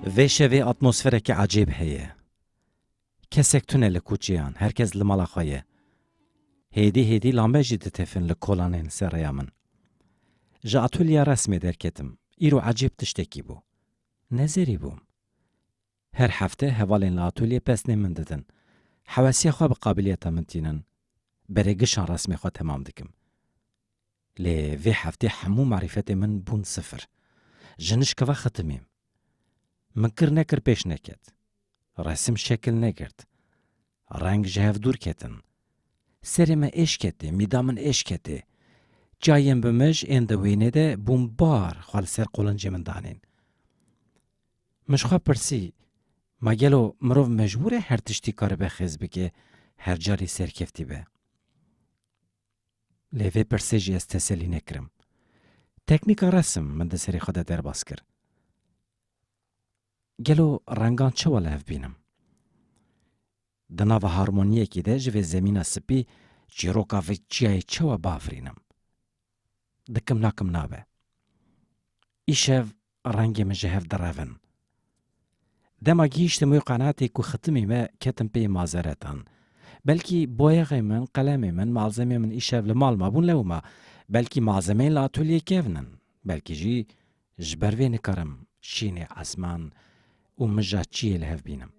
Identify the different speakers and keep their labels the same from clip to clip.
Speaker 1: Vê şevê atmosferekî ecêb heye. Kesek tune li kûçeyan, her kes li mala xwe ye. Hêdî hêdî lambe jî ditefin li kolanên ser rêya min. Ji atulya resmê derketim, îro ecêb tiştekî bû. Nezerî bûm. Her hefte hevalên li atolyê pesnê min didin. Hewesiya xwe bi qabiliyeta min tînin. Berê gişan resmê xwe temam dikim. Lê vê heftê hemû merîfetên min bûn sifir. Ji nişkeva xitimîm. Min kir nekir pêş neket. Resim şekil negirt. Reng ji hev dûr ketin. Serê me êş ketê, mîda min êş ketê. Çiyayên bi mij ên di wênê de bûn bar xwe li ser qolincê min danîn. Min ji xwe pirsî, Ma gelo mirov mecbûr e her tiştî karibe xêz bike, her carî serkeftî be? Lê vê pirsê jî ez teselî nekirim. Teknîka resim min di serê xwe de derbas kir. Gelo rengan çawa li hev bînim? Di nava harmoniyekê de ji vê zemîna sipî çîroka vê çiyayê çawa biafirînim? Dikim nakim nabe. Îşev Rengê min ji hev direvin. Dema gihîştim wê qenatê ku xitimî me ketim pê mazeretan. Belkî boyaxê min, qalemê min, malzemeyên min îşev li mal mabûn lewma. Belkî malzemeyên li atolyê kevn in. Belkî jî ji ber vê nikarim şînê esman û mija çiyê li hev bînim.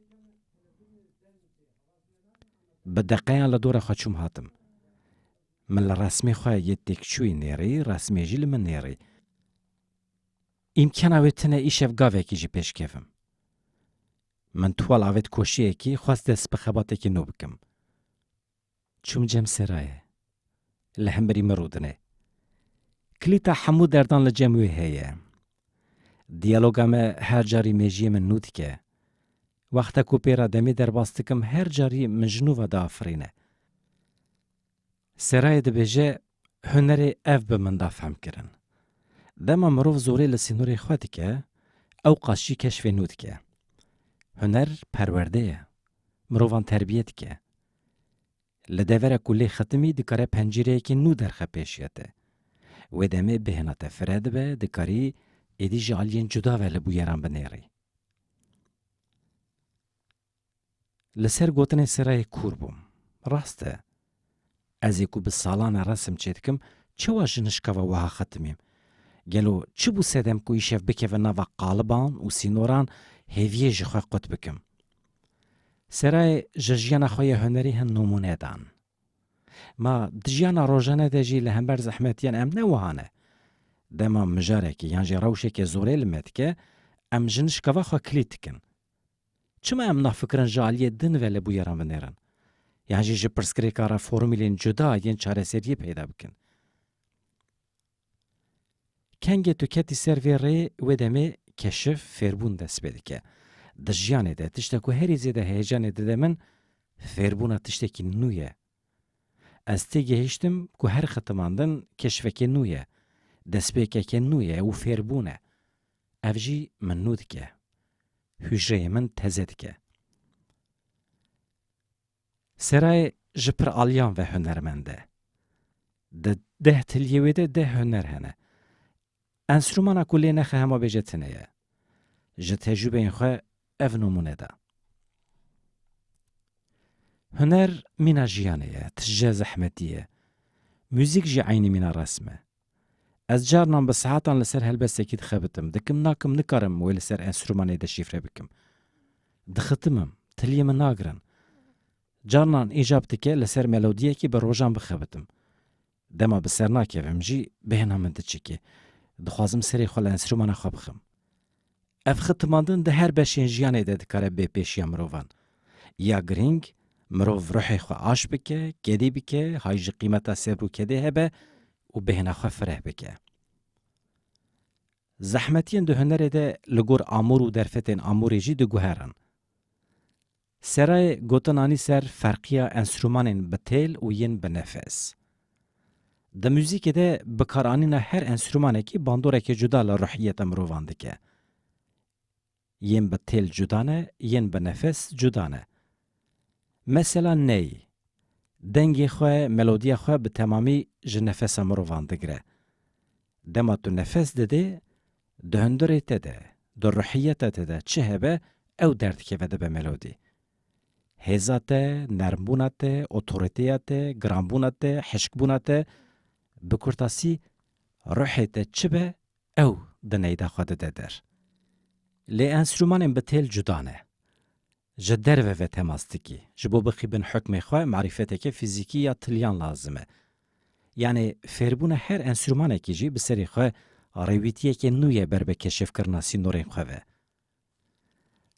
Speaker 1: Bi deqeyan li dora xwe çûm hatim. Min li resmê xwe yê têkçûyî nêrî, resmê jî li min nêrî. Îmkana wê tune îşev gavekî jî pêş kevim. Min tual avêt koşiyekî, xwest dest bi xebatekî nû bikim. Çûm cem serayê. Li hemberî min rûdine. Kilîta hemû derdan li cem wê heye. Diyaloga me her carî mêjiyê min nû dike. Wexta ku pê re demê derbas dikim her carî min ji nû ve diafirîne. Serayê dibêje, Hunerê ev bi min da fehmkirin. Dema mirov zorê li sînorê xwe dike, ewqas jî keşfê nû dike. Huner perwerde ye, mirovan terbiye dike. Li devera ku lê xitimî dikare pencîreyekî nû derxe pêşiya te. Wê demê bêhna te fire dibe, dikarî êdî ji aliyên cuda ve li bûyeran binêrî. Li ser gotinên Serayê kûr bûm. Rast e. Ez ê ku bi salan e resim çêdikim, çawa ji nişkava wiha xetimîm? Gelo çi bû sedem ku îşev bikevin nava qaliban û sînoran hêviyê ji xwe qut bikim? Serayê ji jiyana xwe ya hunerî hin nimûne dan. Ma di jiyana rojane de jî li hember zehmetiyan em ne wiha ne. Dema mijarekî yan jî rewşeke zorê li me dike, em ji nişkava xwe kilît dikin. Çima em nafikirin ji aliyê din ve li bûyeran vinêrin yan jî ji pirsgirêka re formûlên cuda yên çareseriyê peyda bikin? Kengê tu ketî ser vê rê wê demê keşif, fêrbûn dest pê dike. Di jiyanê de tişta ku herî zêde heyecanê dide min fêrbûna tiştekî nû ye. Ez têgihiştim ku her xitimandin keşfekê nû ye, destpêkeke nû ye û fêrbûn e. Ev jî min nû dike. Hûcreyê min teze dike. Seray ji pir aliyan ve hunermend e. Di deh tiliyê wê de deh huner hene. Enstrûmana ku lê nexe hema bêje tune ye. Ji tecrûbeyên xwe ev nimûne da. Huner mîna jiyanê ye, tije zehmetî ye. Mûzîk jî eynî mîna resm e. Ez carinan bi saetan li ser helbestekî dixebitim, dikim nakim nikarim wê li ser enstrûmanê de şîfre bikim. Dixitimim, tiliyê min nagirin. Carinan îcab dike li ser melodiyekî bi rojan bixebitim. Dema bi ser nakevim jî bêhna min diçike. Dixwazim serê xwe li enstrûmana xwe bixim. Ev xitmandin di her beşên jiyanê de dikare bê pêşiya mirovan. Ya girîng, mirov ruhê xwe aş bike, kedî bike, hay ji qîmeta sebr û kedê hebe û bêhna xwe fireh bike. Zehmetiyên di hunerê de li gor amûr û derfetên amûrê jî diguherin. Serayê gotin anî ser ferqiya enstrûmanên bi têl û yên bi nefes. Di muzîkê de bikaranîna her enstrûmanekî bandoreke cuda li ruhiyeta mirovan dike. Yên bi têl cuda ne, yên bi nefes cuda ne. Mesela ney, dengê xwe, melodiya xwe bi temamî ji nefesa mirovan digire. Dema tu nefes didê, Di hundirê te de, di ruhiyeta te de çi hebe ew derdikeve dibe melodî. Hêza te, nermbûna te, otorîteya te, giranbûna te, hişkbûna te, bi kurtasî ruhê te çi be ew di neyda xwe dide der. Lê enstrûmanên bi têl cuda ne. Ji derve ve temas dikî. Ji bo bixîbin hukmê xwe marîfeteke fîzîkî ya tiliyan lazim e. Yanê fêrbûna her enstrûmanekî jî bi serê xwe rêwîtiyekê nû ye ber bi keşifkirina sînorên xwe ve.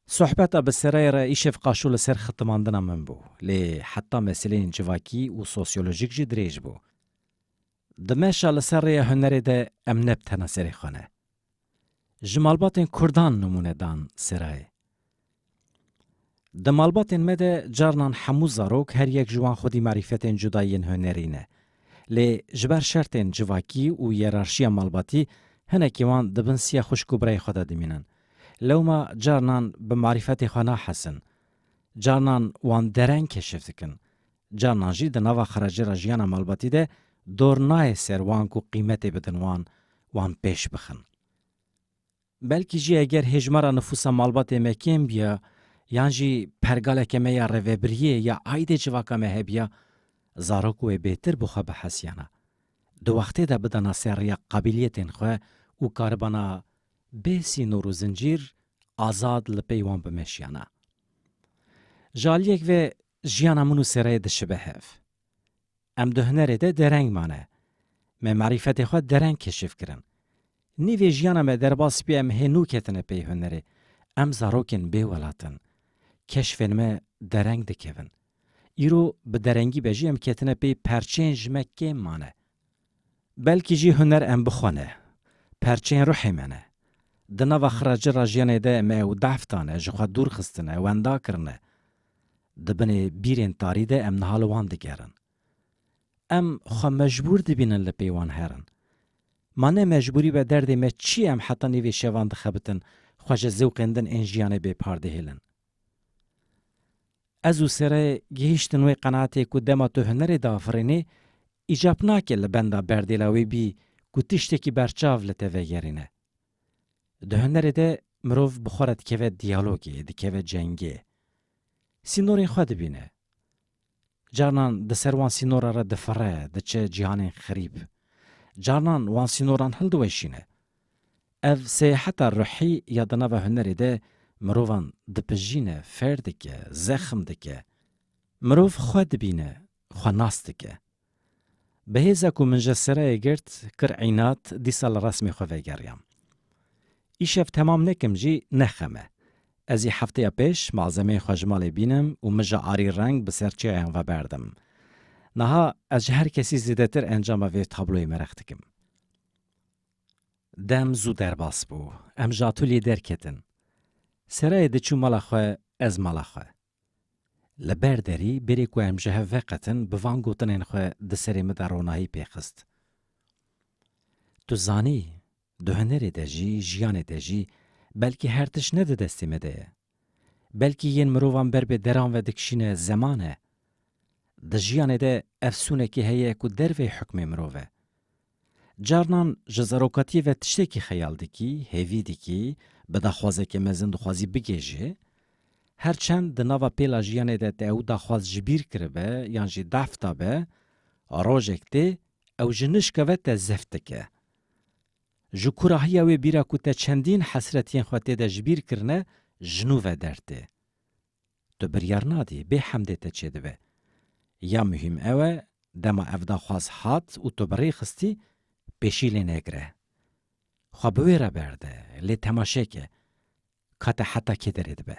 Speaker 1: Sohbeta bi sereyê re îşev qaşo li ser xitimandina min bû. Lê heta meseleyên civakî û sosyolojîk jî dirêj bû. Di meşa li ser rêya hunerê de em ne bi tena serê xwe ne. Ji malbatên Kurdan nimûne dan serayê. Di malbatên me de carinan hemû zarok her yek ji wan xwedî marîfetên cuda yên hunerî ne. Lê ji ber şertên civakî û yerarşiya malbatî hinekî wan di bin siya xwişk û birayê xwe de dimînin. Lewma carinan bi marîfetê xwe nahesin. Carinan wan dereng keşif dikin. Carinan jî di nava xerajêra jiyana malbatî de dor nayê ser wan ku qîmetê bidin wan, wan pêş bixin. Belkî jî eger hêjmara nifûsa malbatê me kêm biya yan jî pergaleke me ya rêvebiriyê ya aîdê civaka me hebiya, zarok wê bêtir bi xwe bihesiyana, di wextê de bidana ser riya qabîliyetên xwe û karibana bê sînor û zincîr azad li pey wan bimeşiyana. Ji aliyek ve Jiyana min û Sêreyê dişibe hev. Em di hunerê de dereng mane. Me marîfetê xwe dereng keşîf kirin. Nîvê jiyana me derbas bî em hênû ketine pey hunerê. Em zarokên bê welat in. Keşfên me dereng dikevin. Îro bi derengî be jî em ketine pey perçeyên ji me kêm mane. Belkî jî huner em bixwene. Perçeyên ruhê me ne. Di nava xiracir a jiyanê de me ew dahf dane, ji xwe dûr xistine, wenda kirine. Di binê bîrên tarî de em niha li wan digerin. Em xwe mecbûr dibînin li pê wan herin. Ma ne mecbûrî be derdê me çi ye em heta nîvê şevan dixebitin xwe ji zewqên din ên jiyanê bêpar dihêlin. Ez û Sere gihîştin wê qenaatê ku dema tu hunerê diafirînî îcab nake li benda berdêla wê bî ku tiştekî berçav li te vegerîne. Di hunerê de mirov bi xwe re dikeve diyalogê, dikeve cengê. Sînorên xwe dibîne. Carinan di ser wan sînoran re difire, diçe cîhanên xerîb. Carinan wan sînoran hildiweşîne. Ev seyaheta ruhî ya di nava hunerê de mirovan dipijîne, fêr dike, zexm dike. Mirov xwe dibîne, xwe nas dike. Bi hêza ku min ji sereyê girt, kir înad, dîsa li resmê xwe vegeriyam. Îşev temam nekim jî ne xem e. Ez ê hefteya pêş malzemeyên xwe ji malê bînim û mija arî reng bi ser çêyan ve berdim. Niha ez ji her kesî zêdetir encama vê tabloyê merix dikim. Dem zû derbas bû. Em ji atûlyê derketin. Sereyê diçû mala xwe, ez mala xwe. Li ber derî bêrê ku em ji hev veqetin bi van gotinên xwe di serê min de ronahî pê xist. Tu zanî, di hunerê de jî, jiyanê de jî belkî her tişt ne di destê me de ye. Belkî yên mirovan ber bi deran ve dikişîne zeman e. Di jiyanê de efsûnekê heye ku dervey hukmê mirov e. Carnan ji zerokatiyê ve tiştekî xeyal dikî, hêvî dikî, bi daxwazeke mezin dixwazî bigihêjê. Her çend di nava pêla jiyanê de te ew daxwaz ji bîr kiribe yan jî dahf dabe, rojek tê ew ji nişka ve te zeft dike. Ji kurahiya wê bîra ku te çendîn hesretiyên xwe tê de ji bîr kirine ji nû ve dertê. Tu biryar nadî, bê hemdê te çêdibe. Ya muhîm ew e, dema ev daxwaz hat û tu bi rê xistî, pêşî lê negire. Xwe bi wê re berde, lê temaşe ke, ka te heta kê derê dibe.